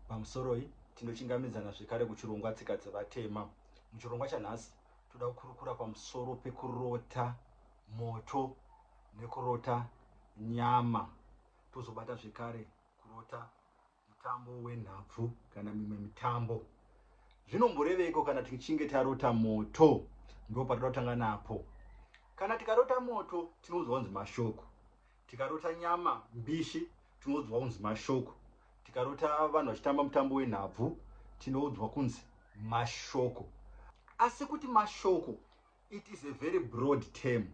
Pamusoroi, tinochingamidzana zvekare kuchirongwa Tsika Dzevatema. Muchirongwa chanhasi, toda kukurukura pamusoro pekurota moto nekurota nyama. Tozobata zvekare kurota mutambo wenhabvu kana mimwe mitambo. Zvinomboreveiko kana tichinge tarota moto? Ndopatoda kutanga napo. Kana tikarota moto, tinoudzwa kunzi mashoko. Tikarota nyama mbishi tinoudzwa kunzi mashoko. Tikarota vanhu vachitamba mutambo wenhabvu tinoudzwa kunzi mashoko. Asi kuti mashoko it is a very broad term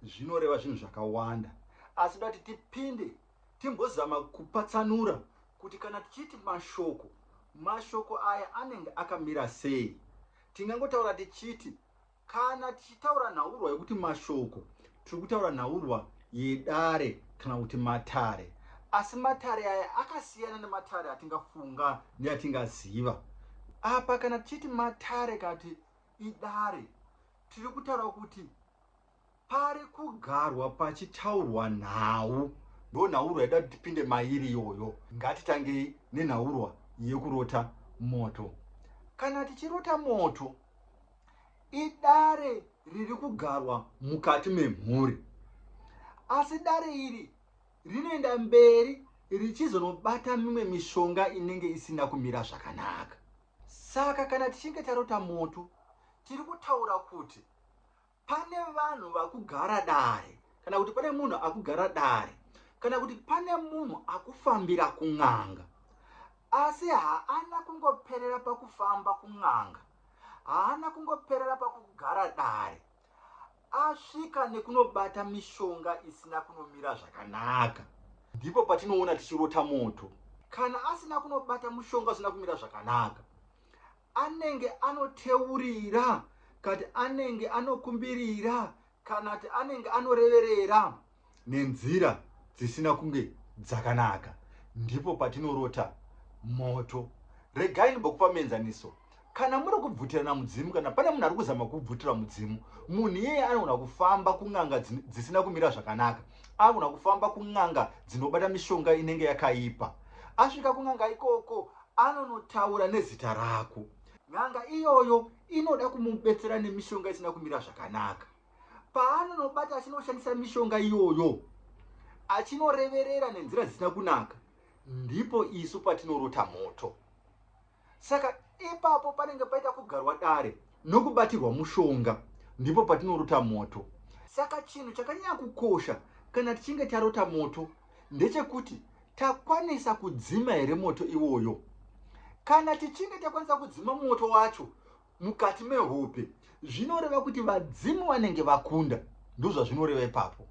zvinoreva zvinhu zvakawanda. Asi toda kuti tipinde timbozama kupatsanura kuti kana tichiti mashoko, mashoko aya anenge akamira sei. Tingangotaura tichiti Kana tichitaura nhaurwa yokuti mashoko, tiri kutaura nhaurwa yedare kana kuti matare. Asi matare aya akasiyana nematare atingafunga neatingaziva. Apa kana tichiti matare kana kuti idare, tiri kutaura kuti Pari kugarwa pachitaurwa nhau. Ndonhaurwa yaida kuti tipinde mairi iyoyo. Ngatitangei nenhaurwa yekurota moto. Kana tichirota moto, idare riri kugarwa mukati memhuri. Asi dare iri rinoenda mberi richizonobata mimwe mishonga inenge isina kumira zvakanaka. Saka kana tichinge tarota moto, tiri kutaura kuti Pane vanhu vakugara dare kana kuti pane munhu akugara dare kana kuti pane munhu akufambira kun'anga asi haana kungoperera pakufamba kun'anga haana kungoperera pakugara dare asvika nekunobata mishonga isina kunomira zvakanaka ndipo patinoona tichirota moto kana asina kunobata mushonga usina kumira zvakanaka Anenge anoteurira kati anenge anokumbirira kana kti anenge anoreverera nenzira dzisina kunge dzakanaka ndipo patinorota moto. Regai ndimbokupa muenzaniso. Kana muri kubvutirana mudzimu kana pane munhu ari kuzama kukubvutira mudzimu, munhu iyeye anogona kufamba kun'anga dzisina kumira zvakanaka. Anogona kufamba kun'anga dzinobata mishonga inenge yakaipa. Asvika kun'anga ikoko anonotaura nezita rako. N'anga iyoyo inoda kumubetsera nemishonga isina kumira zvakanaka. Paanonobata achinoshandisa mishonga iyoyo, achinoreverera nenzira dzisina kunaka, ndipo isu patinorota moto. Saka ipapo panenge paita kugarwa dare nokubatirwa mushonga, ndipo patinorota moto. Saka chinhu chakanyanya kukosha kana tichinge tarota moto ndechekuti Takwanisa kudzima here moto iwoyo? Kana tichinge takwanisa kudzima moto wacho mukati mehope, zvinoreva kuti vadzimu vanenge vakunda. Ndozvazvinoreva ipapo.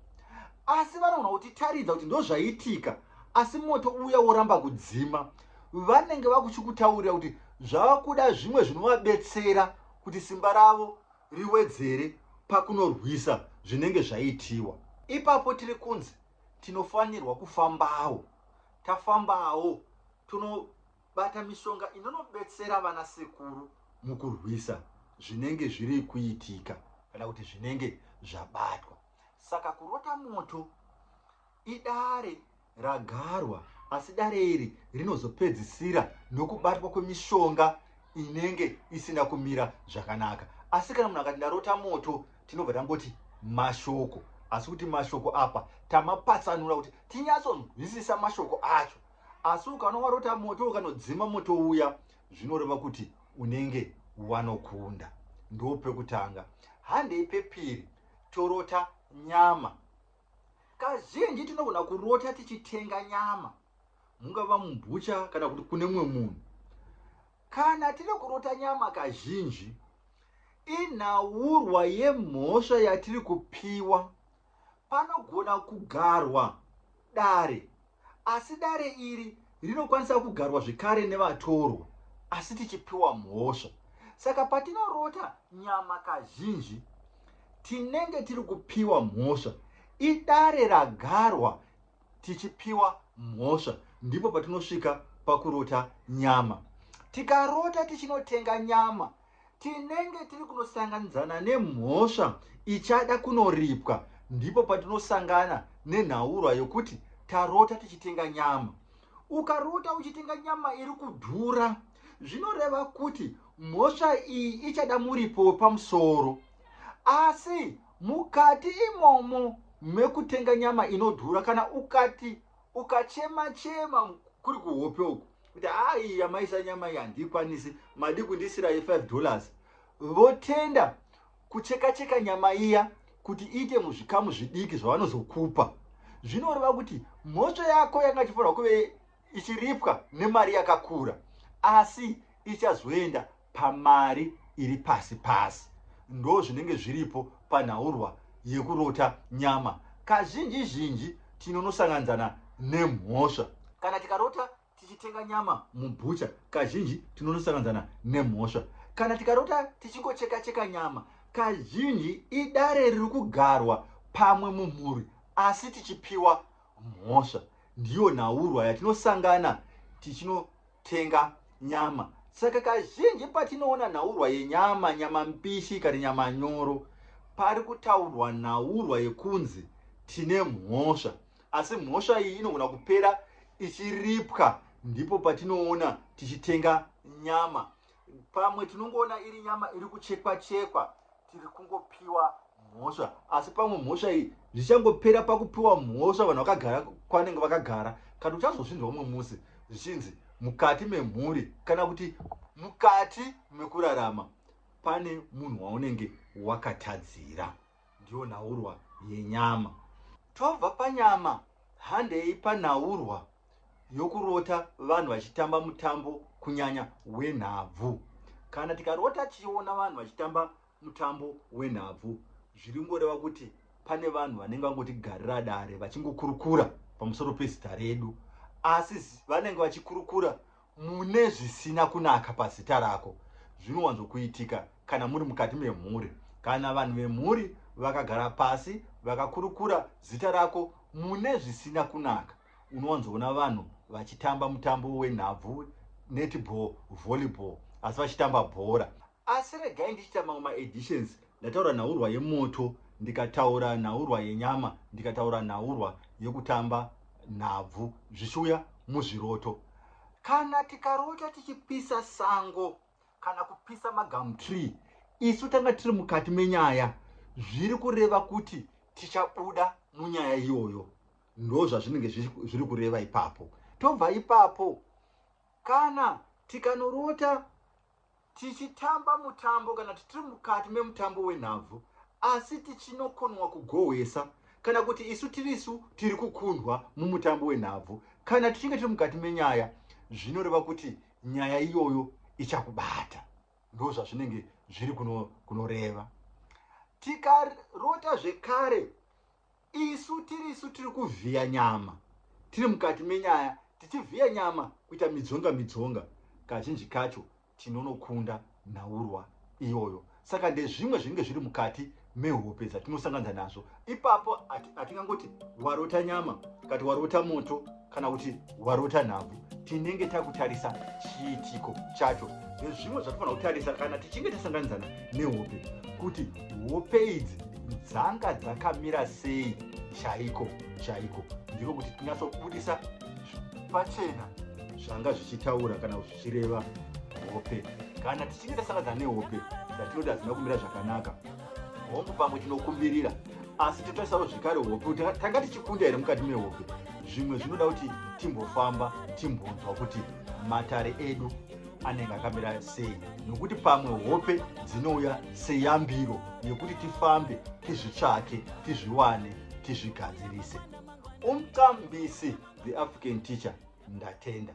Asi vanogona kutitaridza kuti ndozvaitika, asi moto uya woramba kudzima. Vanenge vakuchikutaurira kuti zvava kuda zvimwe zvinovabetsera kuti simba ravo riwedzere pakunorwisa zvinenge zvaitiwa. Ipapo tiri kunzi Tinofanirwa kufambawo. Tafambawo, tonobata mishonga inonobetsera vanasekuru mukurwisa zvinenge zviri kuitika kana kuti zvinenge zvabatwa. Saka kurota moto idare ragarwa asi dare iri rinozopedzisira nokubatwa kwemishonga inenge isina kumira zvakanaka. Asi kana munhu akati ndarota moto, tinobva tangoti mashoko asi kuti mashoko apa tamapatsanura kuti tinyatsonzwisisa mashoko acho asi ukanowarota moto ukanodzima moto uya zvinoreva kuti unenge wanokunda ndo pekutanga handei pepiri torota nyama kazhinji tinogona kurota tichitenga nyama mungava mubhucha kana kuti kune mumwe munhu Kana tiri kurota nyama kazhinji inhaurwa yemhosva yatiri kupiwa. Panogona kugarwa dare asi dare iri rinokwanisa kugarwa zvekare nevatorwa asi tichipiwa mhosva. Saka patinorota nyama kazhinji tinenge tiri kupiwa mhosva. Idare ragarwa tichipiwa mhosva ndipo patinosvika pakurota nyama. Tikarota tichinotenga nyama tinenge tiri kunosanganidzana nemhosva ichada kunoripwa ndipo patinosangana nenhaurwa yokuti tarota tichitenga nyama. Ukarota uchitenga nyama iri kudhura zvinoreva kuti mhosva iyi ichada muripo wepamusoro asi Mukati imomo mekutenga nyama inodhura kana ukati ukachema chema kuri kuhope uku kuti haa iyi yamaisa nyama iyi handiikwanisi madi kundisira ye 5 dollars votenda kucheka cheka nyama iya kuti iite muzvikamu zvidiki zvavanozokupa zvinoreva kuti mhosva yako yanga ichifanirwa kuve ichiripwa nemari yakakura asi ichazoenda pamari iri pasi pasi ndozvinenge zviripo panhaurwa yekurota nyama kazhinji zhinji tinonosanganidzana nemhosva kana tikarota tichitenga nyama mubhucha kazhinji tinonosanganidzana nemhosva kana tikarota tichingocheka cheka nyama kazhinji idare riri kugarwa pamwe mumhuri asi tichipiwa mhosva ndiyo nhaurwa yatinosangana tichino tenga nyama. Saka kazhinji patinoona nhaurwa yenyama, nyama mbishi kana nyama nyoro, pari kutaurwa nhaurwa yekunzi tine mhosva. Asi mhosva iyi inogona kupera ichiripwa ndipo patinoona tichitenga nyama. Pamwe tinongoona iri nyama iri kuchekwa chekwa tiri kungopiwa mhosva asi pamwe mhosva iyi zvichangopera pakupiwa mhosva vanhu vakagara kwanenge vakagara kana uchazozvinzwa umwe musi zvichinzi mukati memhuri kana kuti mukati mekurarama pane munhu waunenge wakatadzira Ndiyo nhaurwa yenyama. Tobva panyama handei panhaurwa yokurota vanhu vachitamba mutambo kunyanya wenhabvu. Kana tikarota tichiona vanhu vachitamba mutambo wenhabvu zviringoreva kuti pane vanhu vanenge vangotigarira dare vachingokurukura pamusoro pezita redu asi vanenge vachikurukura Mune zvisina kunaka pazita rako zvinowanzokuitika kana muri mukati memhuri. Kana vanhu vemhuri vakagara pasi vakakurukura zita rako mune zvisina kunaka, unowanzoona vanhu vachitamba mutambo wenhabvu, netball, volleyball asi vachitamba bhora. Asi regai ndichiita mamwe ma editions ndataura nhaurwa yemoto ndikataura nhaurwa yenyama ndikataura nhaurwa yekutamba nhabvu zvichiuya muzviroto. Kana tikarota tichipisa sango kana kupisa ma gum tree isu tanga tiri mukati menyaya zviri kureva kuti tichabuda munyaya iyoyo ndozvazvinenge zviri kureva ipapo. Tobva ipapo kana tikanorota Tichitamba mutambo kana kuti tiri mukati memutambo wenhabvu asi tichinokonwa kugohwesa kana kuti isu tiri isu tiri kukundwa mumutambo wenhabvu kana tichinge tiri mukati menyaya zvinoreva kuti nyaya iyoyo ichakubata ndozvazvinenge zviri kunoreva kuno tikarota zvekare Isu tirisu tiri kuvhiya nyama tiri mukati menyaya tichivhiya nyama kuita midzonga midzonga kazhinji kacho tinonokunda nhaurwa iyoyo saka ndezvimwe zvinenge zviri mukati mehope dzatinosanganza nazvo ipapo hatingangoti warota nyama kati warota moto kana kuti warota nhabvu tinenge takutarisa chiitiko chacho nezvimwe zvatinofanira kutarisa kana tichinge tasanganidzana nehope kuti hope idzi dzanga dzakamira sei chaiko chaiko ndiko kuti tinyatsobudisa pachena zvanga zvichitaura kana zvichireva hope kana tichinge tasanganidzana nehope dzatinoda hadzina kumira zvakanaka hongu pamwe tinokumbirira asi totarisawo zvekare hope kuti tanga tichikunda here mukati mehope zvimwe zvinoda kuti timbofamba timbonzwa kuti matare edu anenge akamira sei nokuti pamwe hope dzinouya seyambiro yekuti tifambe tizvitsvake tizviwane tizvigadzirise umqambisi the african teacher ndatenda